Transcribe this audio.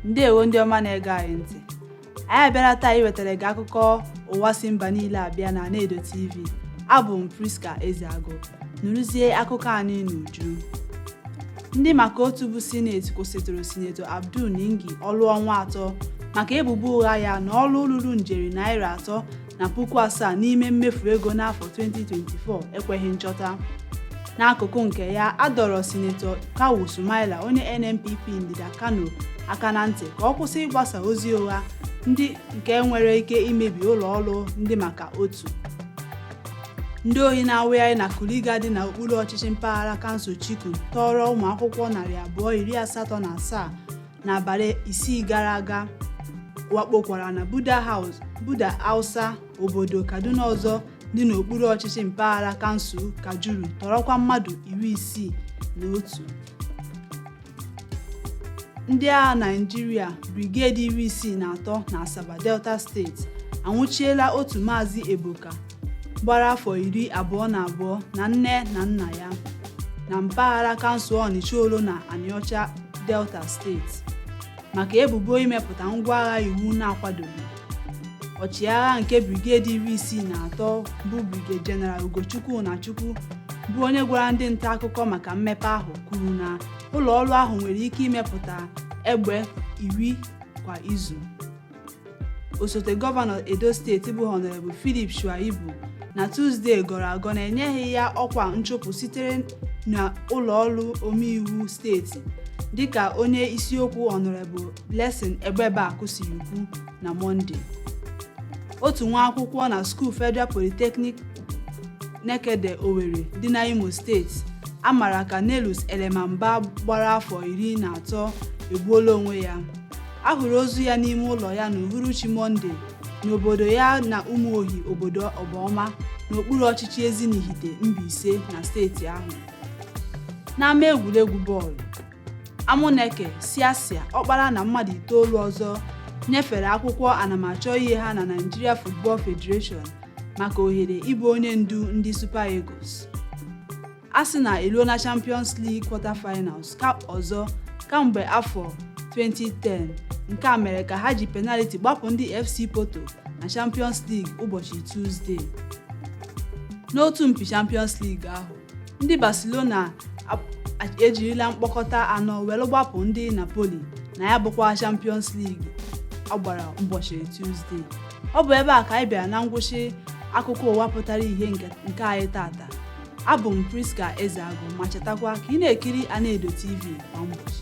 ndewo ndị ọma na-ege anyị ntị anyị abịala taa iwetara gị akụkọ ụwa si mba niile abịa na Anaedo TV abụ m Priska Ezeagu nụrụzie akụkọ anyị n'uju ndị maka otu bụ sineti kwụsịtụrụ sinetọ abdul ningi ọrụ ọnwa atọ maka ebubo ụgha ya na ọrụ ruru njeri naira atọ na puku asaa n'ime mmefu ego n'afọ 2024 ekweghị nchọta n'akụkụ nke ya a dọrọ sinetọ kawu sumaila onye nnpp ndịda kano aka na ntị ka ọ kwụsị ịgbasa ozi ụgha ndị nke nwere ike imebi ụlọ ọrụ ndị maka otu ndị ohi na-awagharị na kuriga dị n'okpuru ọchịchị mpaghara kansụl chikun tọọrọ ụmụ akwụkwọ narị abụọ iri asatọ na asaa n'abalị isii gara aga wakpokwara na buda house buda hausa obodo kaduna ọzọ dị n'okpuru ọchịchị mpaghara kansụl kajuru tọrọkwa mmadụ iri isii na otu ndị agha naijiria briged iri isii na atọ na asaba delta steeti anwụchiela otu maazị ebuka gbara afọ iri abụọ na abụọ na nne na nna ya na mpaghara kansụl ọnịcha olona anịọcha delta steeti maka ebubo imepụta ngwa agha iwu na-akwadoghị ọchịagha nke brigedi iri isii na atọ bụ brigade general ugochukwu ụnachukwu bụ onye gwara ndị nta akụkọ maka mmepe ahụ kwuru na ụlọ ọrụ ahụ nwere ike imepụta egbe iri kwa izu osote gọvanọ edo steeti bụ honorable philip shuaibu na tuzdee gọrọ agọ na enyeghị ya ọkwa nchụpụ sitere na ụlọ ọrụ omeiwu steeti dịka onye isiokwu honorable Blessing Agbebaku siri kwu na Mọnde. Otu nwa akwụkwọ na skuul Federal Polytechnic Nekede Owerri dị na Imo steeti a mara ka Nelus Elemamba gbara afọ iri na atọ egbuola onwe ya. A hụrụ ozu ya n'ime ụlọ ya n'uhuruchi Mọnde n'obodo ya na Umuohi obodo Obaoma n'okpuru ọchịchị Ezinihite Mbaise na steeti ahụ. N'ama egwuregwu bọọlụ, Amuneke, Siasia, Ọkpara na mmadụ itoolu ọzọ nyefere akwụkwọ anamachọ ihe ha na Nigeria Football Federation maka ohere ịbụ onye ndu ndị Super Eagles. Arsenal eruo na Champions League quarter-finals cup ọzọ kamgbe afọ 2010 nke a mere ka ha ji penaliti gbapụ ndị FC Porto na Champions League ụbọchị Tuzdee n'otu mpi Champions League ahụ. ndị barcelona ap- ejirila mkpọkọta anọ were gbapụ ndị napoli na ya bụkwa champions league a gbara ụbọchị tuzdee ọ bụ ebe a ka anyị bịara na ngwụsị akụkọ ụwa pụtara ihe nke nke anyị tata abụ m prisca ezeagụ ma chetakwa ka ị na-ekiri anaedo tv kwa ụbọchị